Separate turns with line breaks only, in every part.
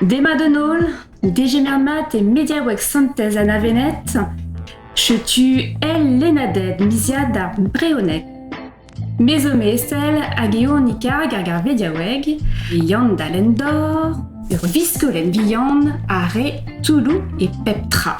Demat d'an holl, degemer mat e mediaoueg Santez Anna-Venette. Setu el lennaded miziad ar Breoned. Me zo Mesel hag eo an karg ar garvediaoueg, Yann Dallendor, ur viskolenn vihan a re Touloù e pep tra.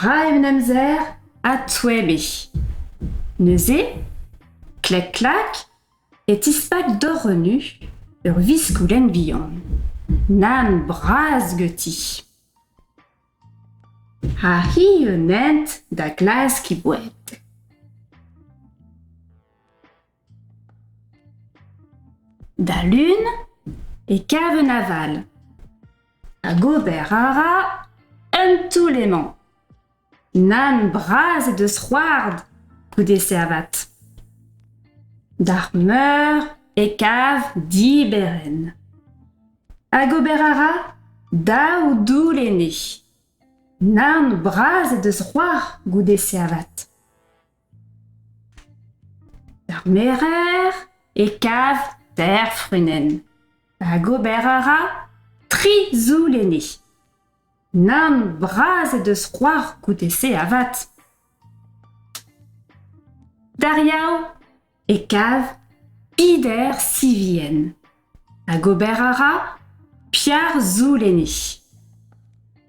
Ra eo an amzer adsouebiñ. Neuze, klek-klak, e tispak dorenu ur viskoudenn vihan. Nann bras ganti. Ha hi un hent da glask he boued. Da lun e kav un aval hag ober a ra un toull emañ. Nann bras he deus c'hoard goude servat. D'ar meur e kav diberenn. Hag ober a ra daou doull enne. Nann bras he deus c'hoar goude servat. D'ar merer e kav teir frunenn hag ober a ra tri zoull enni. Nann bras he deus c'hoar goude-se avat. D'ar Yaou e kav Pider Sivien. Hag ober a ra Pierre Zouleni.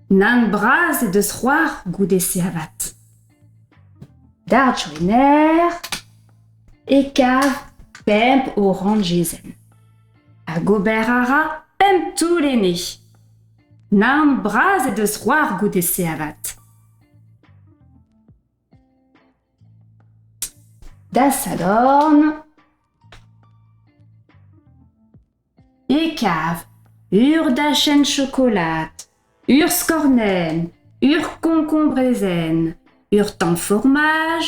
Nann bras he deus c'hoar goude-se avat. Dard Joener e kav pemp oranjezenn. Hag ober a ra pemp toull ene. Nann bras he deus c'hoar goude-se avat. Da sadorn e kav ur dachenn chokolad, ur skornenn, ur koñkoñ brezel, ur tamm formaj,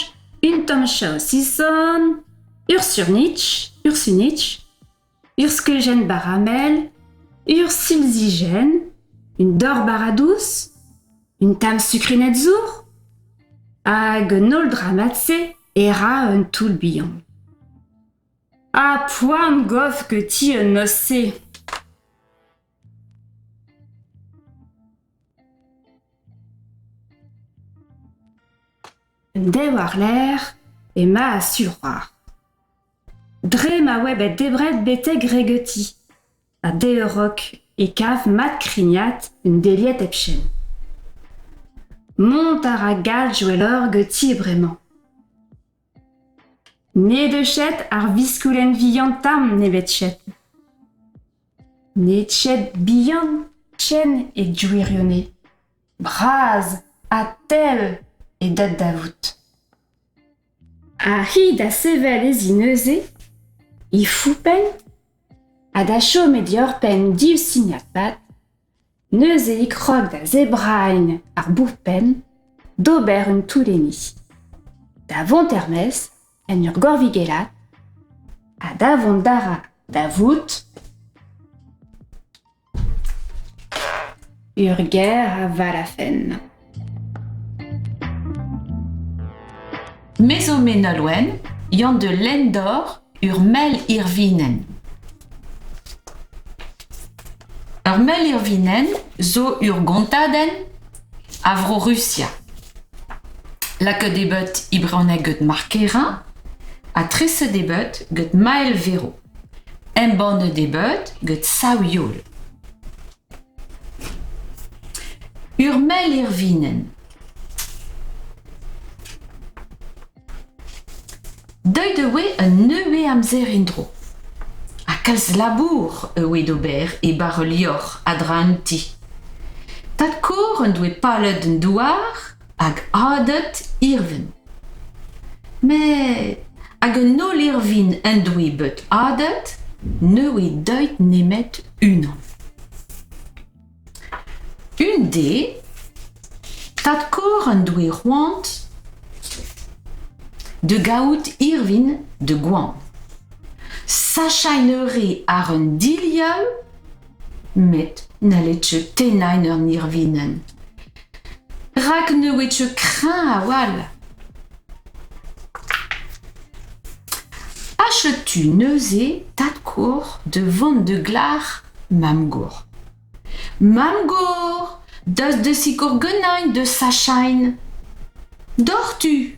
un tamm chaosison, ur surnitch, ur sunitch. ur skeujenn baramel, ur silzijenn, un dor-bara dous, un tamm sukrined zour hag un holl dramad-se e ra un toull bihan. Ha poan gof que ti un noz-se! Un dev war-lerc'h ema a-su c'hoar. Dre ma oa bet debret betek regeuti ha deuroc'h e kav mat krignat un deliet hepken. Mont a ra galljoelloc'h ganti bremañ. Ne deu chet ar viskoulenn vihan tamm nemetchet. Ned chet bihan ken e gwirionez. Bras ha tell eo deut da vout. Ha hi da sevel e zi neuze, he foupenn, ha da chom e dioc'h-penn div signad-pad, neuze e krog da zebrailh ar bourpenn d'ober un toull-enni, da vont er-maez en ur gorvigellad ha da vont da ra da vout... Ur gêr a varafenn.
Me zo Me Nolwenn, Yann de Lendor, ur mell irvinenn. Ur mell irvinenn zo ur gontadenn a Vro-Rusia. Lakaet eo bet e brezhoneg gant Mark Hera ha treset eo bet gant Mael Vero. embannet eo bet gant sav-youl. Ur mell irvinenn. Deuet e oe un neue amzer en-dro. Ha kalz labour e oe d'ober e bar ul liorzh a dra un ti. Tad-Kor en doe palet un douar hag adet irvin. Met hag un holl irvin en doe bet adet, ne oe deuet nemet unan. Un dez, tad-kor en doe c'hoant da gaout irvin da goan. Sachañ e eure àr un dilhav Met n'halled-tu tennañ en ur irvinenn. Rak ne ouied-tu kreñv a-walc'h. Achètes-tu neuze tad-kor da vont da glac'h mamm-gor? Mamm-gor, daoust da sikour ganin da sachain. Doc'htu!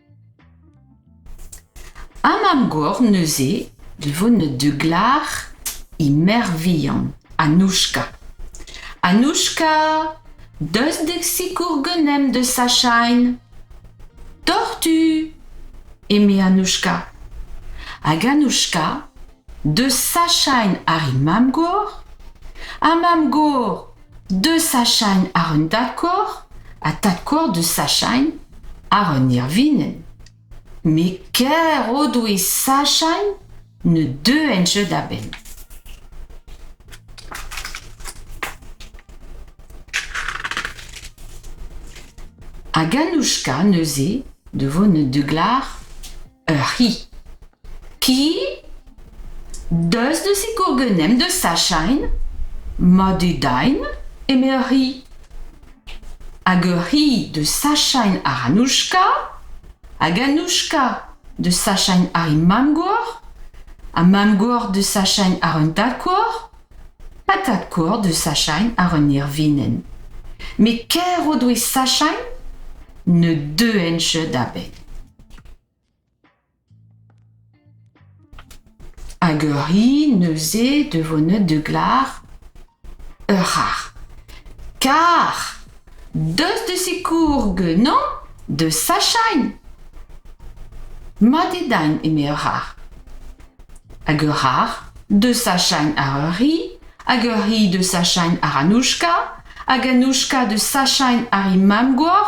Ha mab-gor neuze livouned du glar he merc'h vihan Anouchka. Anouchka, deus dek sikour ganemp da sachain. Tortu! eme Anouchka. Hag Anouchka, deus sachain ar he mab-gor? Ha mab-gor, De Sachagne àr un dad-kor ha tad-kor De Sachagne àr un irvinenn. Met ker o doe Sachagne ne deuent jeu da benn. Hag Anouchka neuze, de vo ne deuglac'h Ur c'hi. Ki? Deus da sikour genemp da sachain Madedain, eme ur c'hi. Hag ur c'hi da sachain àr Anouchka hag Anouchka da sachain àr he mamm-gor ha mamm-gor da sachain àr un tad-kor ha tad-kor da sachain àr un ervinenn. Met ker o doe sachain ne deuent-se da benn. Hag ur hi neuze de voneud de glar ur c'harr. Kar! Deus de sikour genañ da sachañ. Mat eo din, eme ur c'harr. Hag ur c'harr da sachañ àr ur c'hi, hag ur c'hi da sachañ àr anouchka, hag anouchka da sachañ àr he mamm-gor,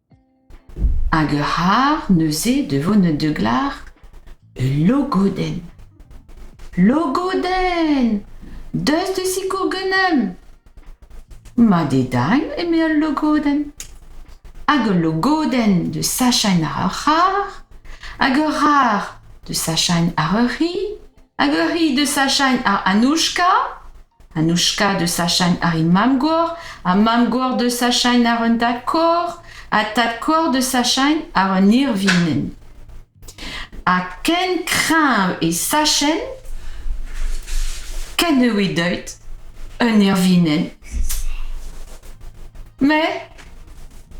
Hag ur c'harr neuze da vont da glar ul logodenn. Logodenn! Deus da sikour ganeomp! Mat eo dagn, eme al logodenn. Hag ul logodenn da sachañ àr ur c'harr, hag ur c'harr da sachañ àr ur c'hi. Hag ur c'hi da sachañ ar Anouchka, Anouchka da sachañ ar he mamm-gor, ar mamm-gor da sachañ àr un dad-kor, ar tad-kor da sachañ àr un irvinenn. Ha ken kreñv e sachenn, ken e oe deuet un irvinenn. Mais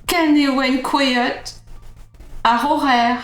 ken e oent kouezhet àr o c'her.